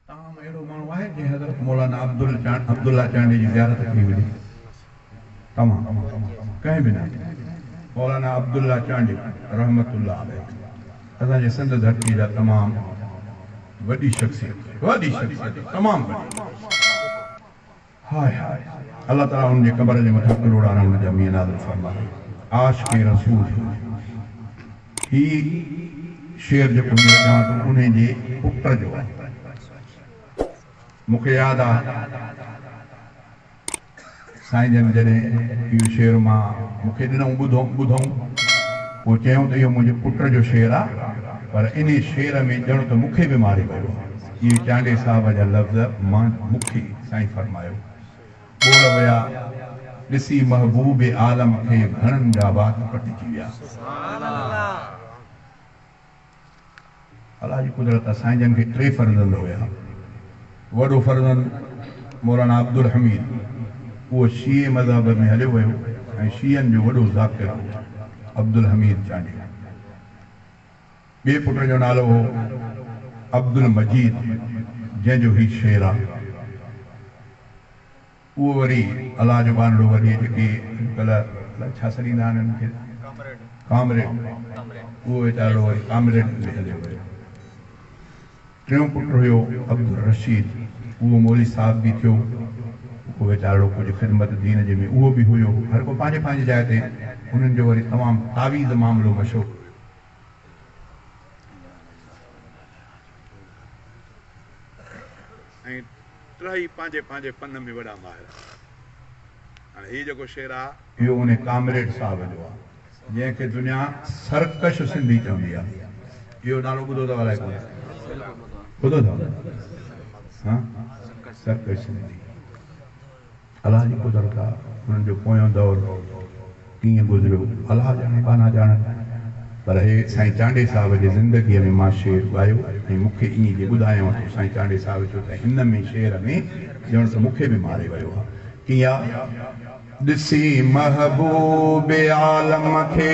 توهان ۾ اهڙو ماڻهو آهي جنهن حضرت مولانا عبدالله چانڊيي جي زيارت ڪئي هجي؟ توهان ڪنهن به نه. مولانا عبدالله چانڊيو رحمة الله عليه اسان جي سنڌ ڌرتي جا تمام وڏي شخصيت وڏي شخصيت تمام وڏي. هاء هاء الله تعالي ان جي قبر جي مٿان ڪلهوڙا رحمت جا مينهن نازل فرمائي عاشق رسول هي شعر جيڪو هينئر چوان ٿو انهي جي پٽ جو آ مون کي ياد آ سائين جن جڏهن اهو شعر مان مون کي ڏنئون ٻڌئون ٻڌئون پوء چيائون ته اهو منهنجي پٽ جو شعر آ پر انهي شعر ۾ ڄڻ ته مون کي به ماري ويو آ. جيئن چانڊئي صاحب جا لفظ مان مکي سائين فرمايو، ٻوڙ ويا ڏسي محبوب عالم کي گهڻن جا وات پٽجي ويا. سبحان الله جي قدرت آ سائين جن کي ٽي فرزند هيا وڏو فرزند مولانا عبدالحميد اهو شيعي مذهب ۾ هليو ويو ۽ شيعن جو وڏو ذاڪر هو عبدالحميد چانڊيو. ٻئي پٽ جو نالو هو عبدالمجيد جنهن جو هي شعر آ اهو وري الله جو ٻانهڙو وري جيڪي اڄڪلهه الائي ڇا سڏيندا آهن هن کي ڪامريڊ اهو ويچارڙو وري ڪامريڊ هندي هليو ويو. ٽيون پٽ هيو عبدالرشيد اهو مولي صاحب به ٿيو اهو ويچارڙو ڪجهه خدمت دين جي ۾ اهو به هيو هر ڪو پنهنجي پنهنجي جاء تي انهن جو وري تمام تعويذ معاملو مشهور ۽ ٽهي پنهنجي پنهنجي فن ۾ وڏا ماهر آهن. هاڻي هي جيڪو شعر آ. اهو انهي ڪامريڊ صاحب جو آ جنهن کي دنيا سرڪش سنڌي چوندي آ. اهو نالو ٻڌو اٿو الائي ڪونه. ٻڌو اٿو نه. سرڪش سنڌي. الله جي قدرت آ انهن جو پويون دور ڪيئن گذريو الله ڄاڻي ٻانها ڄاڻن پر هي سائين چانڊئي صاحب جي زندگيء ۾ مان شعر ڳايو ۽ مون کي ائين جي ٻڌايائون تون سائين چانڊئي صاحب چيو ته هن ۾ شعر ۾ ڄڻ ته مون کي به ماري ويو آ ڪيئن آ ڏسي محبوب عالم کي.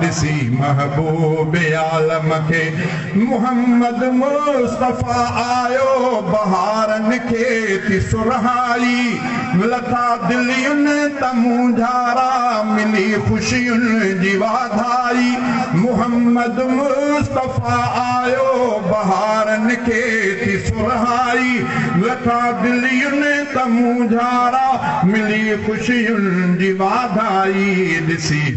ڏسي محبوب عالم کي محمد مصطفيٰ آيو بهارن کي ٿي سرهائي لٿا دلين ته مونجهارا ملي خوشين جي واڌائي محمد مصطفيٰ آيو بهارن کي ٿي سرهائي لٿا دلين ته مونجهارا ملي خوشين جي واڌائي ڏسي.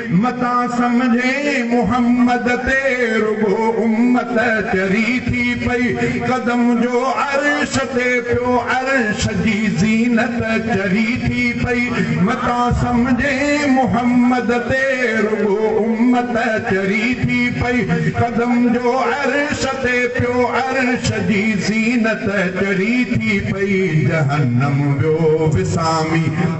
متان سمجهين محمد تي رڳو امت چري ٿي پئي قدم جو عرش تي پيو عرش جي زينت چري ٿي پئي متان سمجهين محمد تي رڳو امت چري ٿي پئي قدم جو عرش تي پيو عرش جي زينت چري ٿي پئي جهنم ويو وسامي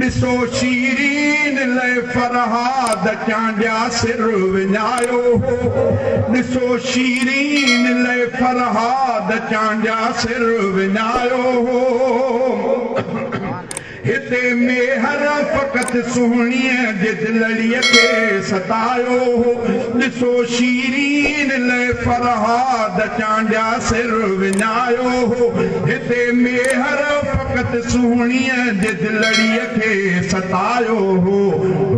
ڏسو شيرين لئه فرهاد چانڊيا سر وڃايو هو ڏسو شيرين لئه فرهاد چانڊيا سر وڃايو هو هتي ميهر فقط سهڻيء جي دلڙيء کي ستايو هو ڏسو شيرين لئه فرهاد چانڊيا سر وڃايو هو. هتي ميهر فقط سهڻيء جي دلڙيء کي ستايو هو،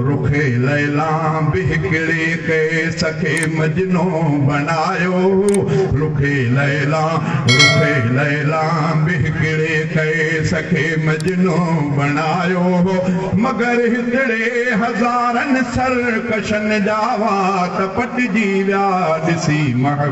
رخ ليلا به هڪڙي قيس کي مجنون بڻايو هو، رخ ليلا، رخ ليلا به هڪڙي قيس کي مجنون بڻايو هو، مگر هتڙي هزارن سرڪشن جا وات پٽجي ويا، ڏسي محبوبا!